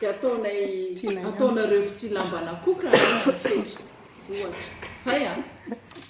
Dia ataonay ataonareo fitsilambana koa ka any ny fetra. Ohatra. Zay an!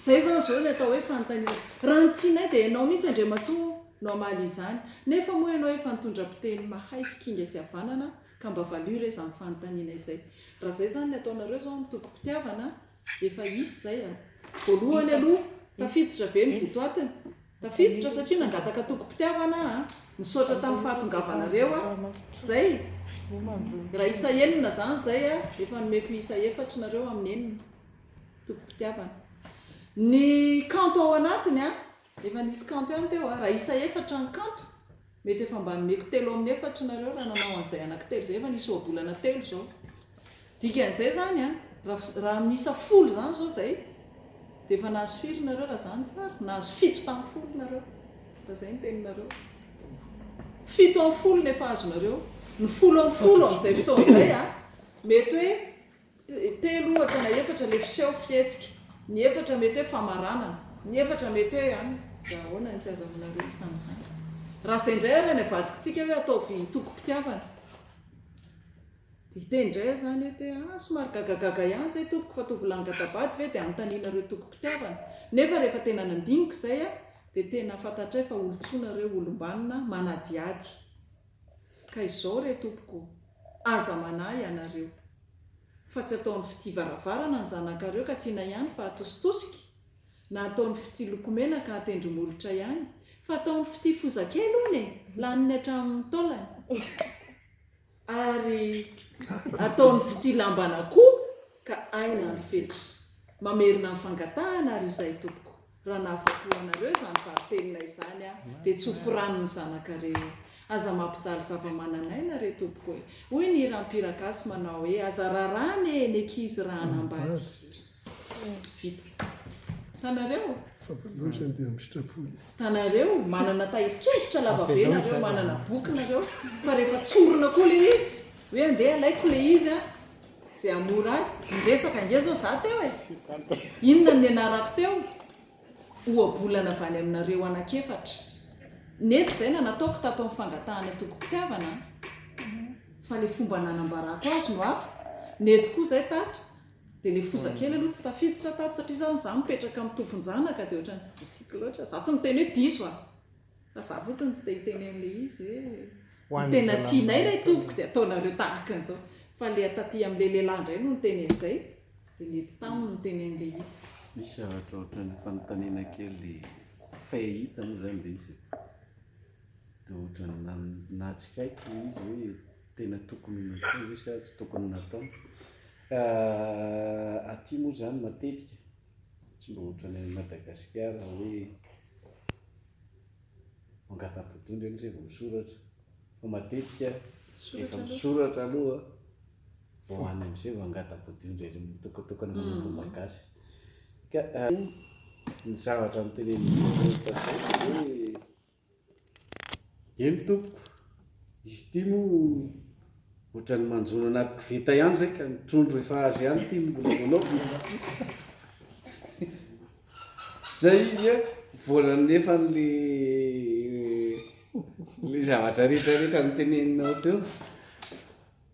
Zay zany zao ny atao hoe fanontaniana. Raha ny tianay dia ianao mihitsy Andriamatoa no hamaly izany. Nefa moa ianao efa nitondra mpiteny mahay sy kinga sy havanana ka mba valio re izany fanontaniana izay. Raha zay zany ny ataonareo zao ny tompom-pitiavana Efa hisy izay a! Voalohany aloha, tafiditra ve ny votoatiny? Tafiditra satria nangataka tokim-pitiavana aho a! Misaotra tamin'ny fahatongavanareo a! Izay! Raha isa enina izany izay a! Efa nomeko isa efatra nareo amin'ny enina tokim-pitiavana. Ny kanto ao anatiny a! Efa nisy kanto ihany teo a, raha isa efatra ny kanto, mety efa mba nomeko telo amin'ny efatra nareo raha nanao an'izay anaky telo izay, efa nisy ohabolana telo izao. Dikan'izay izany a, raha amin'ny isa folo izany izao izay, dia efa nahazo firy nareo raha izany tsara? Nahazo fito tamin'ny folo nareo, raha izay ny teninareo. Fito amin'ny folo no efa azonareo, ny folo amin'ny folo amin'izay fotoana izay a, mety hoe Telo ohatra na efatra le fiseho, fihetsika. Ny efatra mety hoe famaranana. Ny efatra mety hoe an, raha ahoana ny tsy azahoanareo izany izany. Raha izay indray ary any avadikintsika hoe ataovy tokim-pitiavana. Dia hiteny indray aho izany hoe te, ah, somary gagagaga ihany izay tompoko fa toa vilany gata-bady ve dia anontanianareo tokim-pitiavana. Nefa rehefa tena nandinika izay aho dia tena fantatray fa olon-tsoa nareo, olom-banona, manadihady. Ka izao re tompoko, aza manahy ianareo. Fa tsy ataony fitia varavarana ny zanakareo ka tiana ihany fa atositosika, na ataony fitia lokomena ka atendri-molotra ihany, fa ataony fitia foza kely hono e, laniny hatramin'ny taolany. Ary ataony fitia lamban'akoho ka aina ny fetra. Mamerina ny fangatahana ary izay tompoko. Raha nahavoatoha anareo izany valintenina izany aho, dia tsofy rano ny zanakareo. Aza mampijaly zava-manan'aina re tompoko e! Hoy ny hiram-pihira gasy manao hoe, aza raràna e, ny ankizy raha hanambady. Vita. Hitanareo? Hitanareo? Manana tahirin-kevitra lavabe nareo, manana boky nareo, fa rehefa tsorina koa ilay izy, hoe andeha alaiko ilay izy an! Ze hamory azy ny resaka ange zao za teo e! Inona no nianarako teo? Ohabolana avy any aminareo anak'efatra. Nety zay na nataoko tato amin'ny fangatahana tokim-pitiavana an! Fa le fomba nanambarako azy no hafa, nety koa zay tato, de le foza kely aloha tsy tafiditra tato satria zany za mipetraka amin'ny tompon-janaka de ohatran'ny tsy de tiako loatra. Za tsy miteny hoe diso an! Fa za fotsiny tsy dia hiteny an'ilay izy hoe ny tena tianay ilay tompoko dia ataonareo tahaka an'izao. Fa ilay taty amin'ilay lehilahy indray no niteny an'izay, dia nety taminy niteny an'ilay izy. Misy zavatra ohatran'ny fanontaniana kely fahita moa izany ilay izy e. Dia ohatran'ny nan- natsikaiky ilay izy hoe tena tokony ho natao ve sa tsy tokony natao. Aty moa izany matetika. Tsy mba ohatran'ny any Madagasikara hoe mangata-bodondry aloha zay vao misoratra, fa matetika efa misoratra aloha vao any amizay vao mangata-bodondry ery mitokatokana manao vao magasy. Ka ny zavatra notenenin'i Jesoa Kristy tamin'izay dia hoe. Eny tompoko, izy ity moa ohatran'ny manjono anaty koveta ihany izay ka ny trondro efa azo ihany ity no mbola voanaovina. Izay izy a, vola nefany le le zavatra rehetra rehetra noteneninao teo.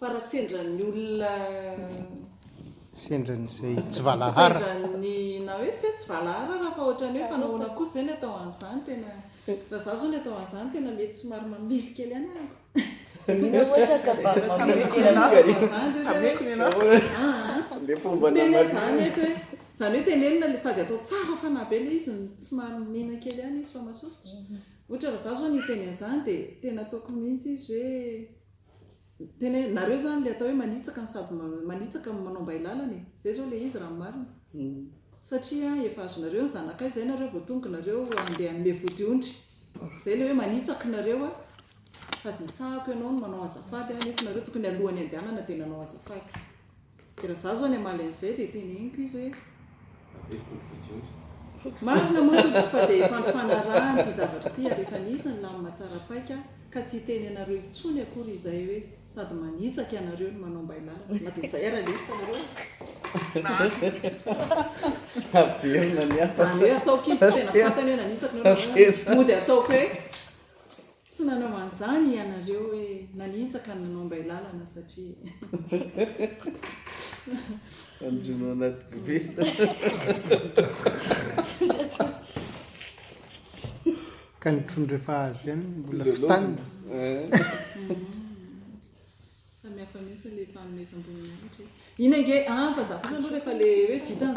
Fa raha sendran'ny olona. Sendran'izay tsy valahara. Sendran'ny na hoe tsy hoe tsy valahara ara fa ohatran'ny hoe fa nahoana kosa izay ny atao an'izany tena. Raha zaho izao ny atao an'izany tena mety somary mamely kely anà ako. Dia mino ohatra ka mba mamely kely anà fa atao an'izany dia hoe. Tsameko ny anà. Aa. Dia fomba namarihana. Tena izany eto hoe. Izany hoe tenenina ilay sady atao tsara fanahy be ilay izy no somary mihena kely ihany izy fa masosotra. Ohatra raha zaho izao no hiteny an'izany dia tena ataoko mihitsy izy hoe. Tena hoe nareo zany le atao hoe manitsaka no sady manitsaka no manao mbailala e! Zay zao le izy raha ny marina e! Satria efa azonareo ny zanakay zay nareo vao tonga nareo andeha hanome vodiondry! Zay le hoe manitsaka nareo a! Sady hitsahako ianao no manao azafady a! Nefa nareo tokony alohany andehanana dia nanao azafady! Dia raha za zao any Malayzia dia teneniko izy hoe. Averiko ny fodiondry. Marina moa tompoko fa dia efa nifanarahana ity zavatra ity ary efa nisy ny lamina tsara paika ka tsy hiteny anareo intsony akory izay hoe sady manitsaka ianareo no manao mbailara na dia izay ara lesy itanareo a. Averina ny hafa. Izany hoe ataoko izy tena fantany hoe nanitsaka nareo mody ataoko hoe. Tsy nanao an'izany ianareo hoe nanitsaka ny nanao ambay lalana satria. Anjono anaty koveta. Ka ny trondro efa azo ihany mbola fitanina. Samihafa mihitsy ilay fanomezam-boninahitra e. Iny ange an, fa za kosa aloha rehefa ilay hoe vita ny.